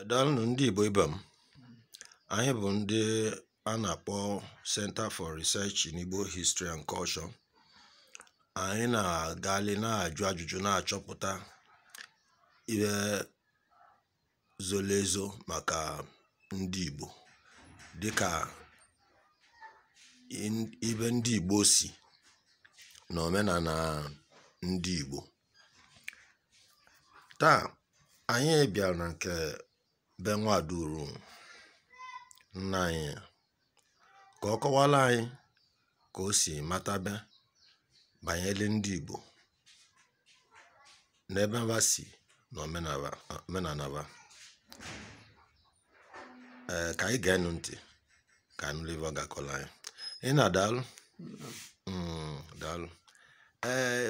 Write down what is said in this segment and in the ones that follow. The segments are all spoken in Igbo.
Daalụnụ ndị Igbo ibe m. Anyị bụ ndị a na-akpọ Center for Research in Igbo History and Culture. Anyị na-agali na-ajụ ajụjụ na-achọpụta ihe zoro ezo maka ndị Igbo dịka in- ibe ndị Igbo si na omenala ndị Igbo. taa anyị bịara na nke be Nwaduru nna anyị ka ọ kọwara anyị ka o si matabe banyere ndị Igbo n'ebe ha si na omenala ha ee ka anyị geenụ ntị ka a nụlụ ive ọ ga-akọrọ anyị nna daalụ Mm, daalụ ee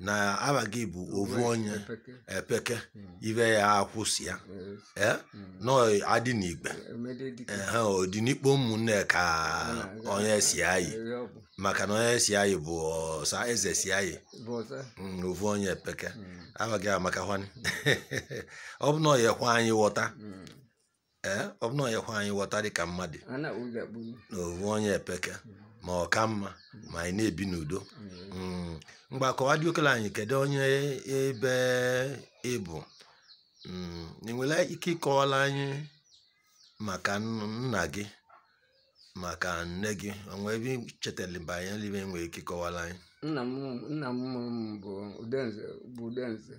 na aha gị bụ ovu onye Epeke. epeke Mm. ibe ya akwụsị ya Yes. ee Mm. nọ adị n'igbe Emede dike. ehe ọ dị n'ikpo ụmụnne ka Na- onye si ayị Eri ọgwụ. maka na onye si ayị bụ ọsa eze si ayị Bụ ọsa. Mm, ovu onye epeke Mm. aha gị amakakwanị ọ bụ na ọ yekwa anyị ghọta Mm. ee ọ bụ na onye hụ anyị ghọta dị ka mmadụ a na-akpụ gị akpụ na ovu onye epeke ma ọ ka mma ma anyị na-ebi n'udo Mm, ngwa kọwa dị okele anyị kedu onye ebe ị bụ Mm, ị nwere ike ịkọwara anyị maka nn- nna gị maka nne gị o nwe ive ị chetara banyere va i nwere ike ịkọwara anyị nna m nna m mụrụ m bụ Udenze bụ Udenze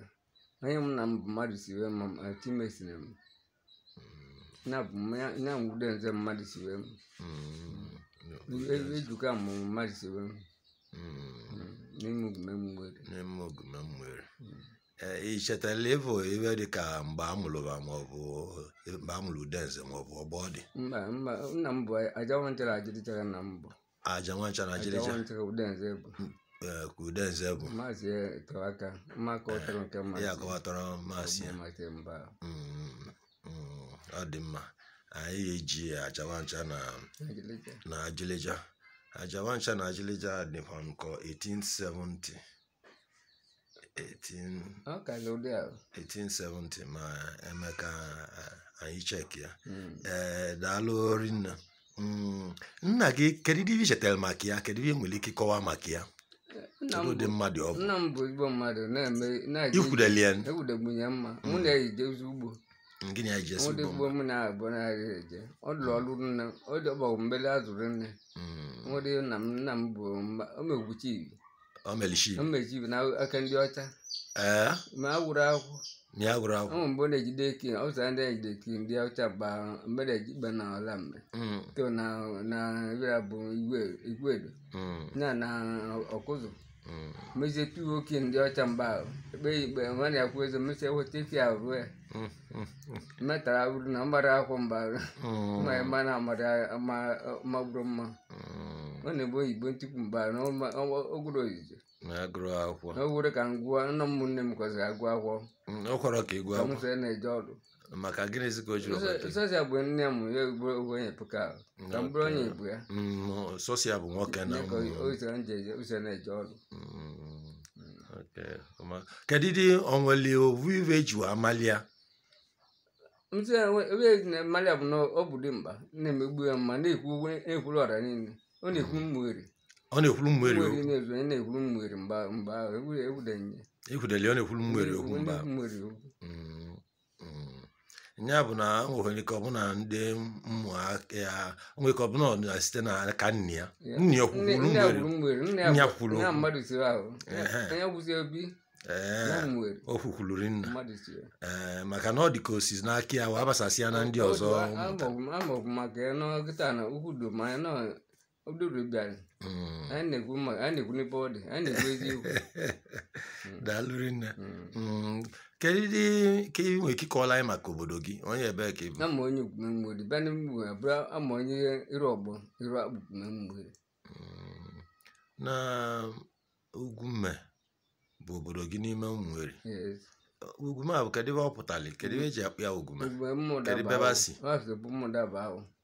onye mụ nna m bụ mmadụ si wee ma m ati mesịrị m na bụ m ya- ya Udenze mmadụ si wee m E- ejuka m mmadụ si wee m n'ime ogume m nwere n'ime ogume m nwere ee ị chetara ịbụ ive dị ka mgbe a mụrụ va maọbụ mgbe a mụrụ Udenze maọbụ ọgbọ ọ dị mba mba nna m bụ aja nwa ncha na ajịlịja nna m bụ aja nwa ncha na ajịlịja Aja nwa ncha ka Udenze bụ. ee, ka Udenze bụ Maazị tọrọ aka mma ka ọ tọrọ nke mma. ya kọwatọrọ maasị ya Maazị mba. Mm, mm, ọ dị mma anyị eji aja nwa ncha na Ajịlịja. na ajịlịja aja nwa ncha na ajịlịja dịkwa nkọ 1870 1870 ma e mee ka anyị check ya hmm. ee eh, daalụ rinne hmm, nna gị kedu ihe i chetara maka ya kedu ihe i nwere ike ịkọwa maka ya ụdị mmadụ ọ bụ nna m bụ ezigbo mmadụ na-eme ikwudeli ya ewudegbunye mma hmm. mụ na-ejezi ugbo gịnị anyị ji esi ugbo mma mụ na-abụ na-arị eje ọ lụrụ ọrụ nne ọ dọbọgwụ mbele azụrụ nne nwere nna m nna m bụ omegwuchi ibi ọ mere chief mmeji bụ n'aka ndị ọcha ee ma a wụrụ akwụ mịa gụrụ akwụkwọ mgbe ọ na-ejide eki ọ sara ndị na-ejide eki ndị ọcha gba mgbe na-eji ikpe na ọla mgbe Mm, to na na ebira bụ Igwe Igwedo mm, na na Ọkụzụ mm. mezie tuwo oke ndị ọcha mgbe ahụ ekpe ya ikpe nwa na-akwụ eze mesie weta eki ahụ ruo ya Mm, mm, mm, metara uru na ọ mara akwụkwọ mgbe ahụ mm, ma mba na amara ma magburu mma mm. ọ na-ekwu oyibo ntupu mba na ọma- ọma- ogwuru oyizo na-agụrụ akwụkwọ na ogwuru ka m gụọ nna m nne m kwesịrị agụ akwụkwọ Mm, o kwere ka ị gụọ ka m akwụkwọ sị na-eje ọrụ maka gịnịzi ka o jiri ọgbata sọsịa bụ nne m ya ogbo ogbenye pụka ahụ ka m bụrụ onye igbo ya Mm, sọsọ ya bụ nwoke na dịka ụmụ. ụzọ m ji eje- ụzọ na-eje ọrụ Mm, okay, ọma. kedu dị onweli ovu ive e ji wee mali ya ntị ive e ji mali ya bụ na ọ bụ dị mba na-emegbu ya mma na-ekwu okwu- na-ekwuru ọra niile ọ na-ekwu Ụmụeri ọ na-ekwuru Ụmụeri Ụmụeri okwu na-ezu onye na-ekwuru Ụmụeri mgbe mgbe ahụ egwudenye ekwudeli ọ na-ekwuru Ụmụeri okwu mgbe ahụ Ụmụeri okwu Mm, mm. ya bụ na nwere ike ọ bụ na ndị ụmụaka ya nwere ike ọ bụ na o site na aka nne ya nne ya kwuru nne ya kwuru o kwukwuluri nna ee maka na ọ dị ka o sizi n'aka ya wee gbasasịa na ndị ọzọ Ododo bịara. Mm. Anyị na-ekwu mma, anyị na-ekwu n'ebe ọ dị, anyị na-ekwu eziokwu. Mm. daalụ rinne Mm. Mm, kedu dị ka ị nwere ike ịkọwara anyị maka obodo gị onye ebee ka ị bụ A m onye Ugwume Ụmụeri, bịa n'ime Ụmụeri, abụrụ m onye iru ọgbọ, iru ọgbọ Ugwume Ụmụeri. Mm, na Ugwume bụ obodo gị n'ime Ụmụeri Yes. Ugwume a bụ kedu ive ọ pụtara kedu ive e ji akpọ ya Ugwume Ugwume ụmụ Kedu daba ebe ahụ. si? Ọ si bụ ụmụ Dabawo.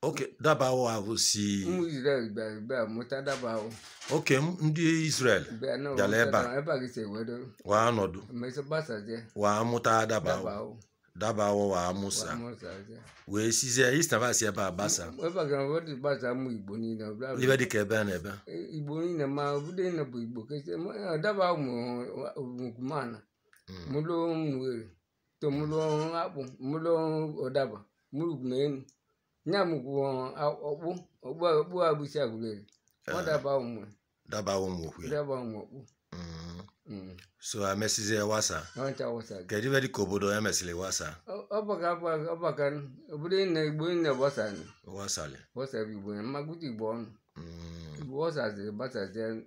okay Dabawo ahụ si ụmụ Izrel bịara bịa mụta Dabawo okay m- ndị Israel bịa na Bịara ebe a. ebe a ka e si ewedo waa nọdụ emesịa gbasazie waa mụta Daba Dabawo ahụ Dabawo waa mụsịa gbasazie wee sizie istavasi ebe a gbasa ebe a ka wa ji gbasa ụmụ Igbo niile ọ bịara ibe dịka ebe a na ebe Igbo niile ma obodo niile bụ Igbo kesie Dabawo mụrụ nkwumana mụrụ Ụmụeri to mụrụ akpụ mụrụ ụdaba mụrụ ugwumenu nya mụkwụ Ọkpụ Ọkpụ Ọkpụ abụzi Agụleri ọ Dabawo mụ Dabawo mụkwu ya Dabawo mụ Ọkpụ Mm. Mm. so emesizie wasa ọ ncha wụsa gị kedu ebe dịka obodo e mesịrị wasa ọ baka ọ baka obodo niile Igbo niile gbasa wasali gbasa bụ igbo ya m ma-agụta igbo ọnụ Mm. igbo gbasaziri gbasaziri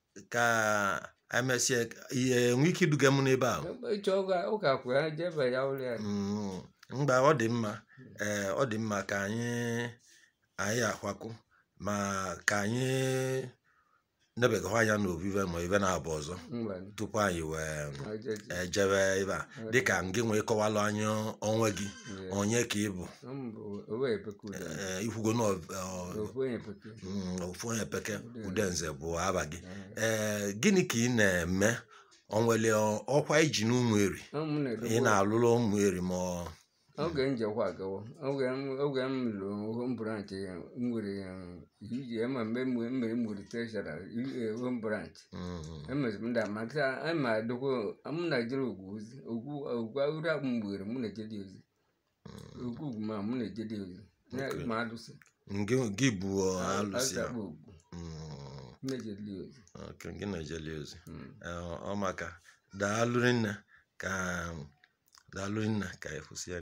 ka emesịa ihe enwe ike iduga m n'ebe ahụ ịchọ ụka kwuru ya jee ebe ya ụlọ ya Mm, mgbe ọ dị mma ee ọ dị mma ka anyị anyị akwakụ ma ka anyị nebegahụ anya n'ovu ive ma ive naabọ ọzọ mba tupu anyị wee jebe ebe a dịka ngị wee kọwalụ anyị onwe gị onye ka ị bụ Eh, ikwugo na mm, ofu onye peke Udenze bụ ava gị ee eh, gịnị ka ị na-eme o nwere ọkwa i ji n'Ụmụeri ị na-alụrụ Ụmụeri ma oge m jekwa agawa oge m lụrụ branch nwere iji ema mgbe mmiri mmiri treasurer home branch emeziri m da maka ama adịkwa m na-ejere Ogwugwu ozi ogwu agụrụ mgbere m na-ejere ozi Ogwugwu ma mụ na-ejeli ozi. Na- Okay. Ma alụsị. Ngị gị bụ ọ, alụsị ya. Azakpa ogbu. Mm, Mụ na-ejeli ozi. okay, gị na-ejeli ozi. Mm. Eh, Ọ maka daalụ rinne ka daalụ rinne ka ekwusị ya.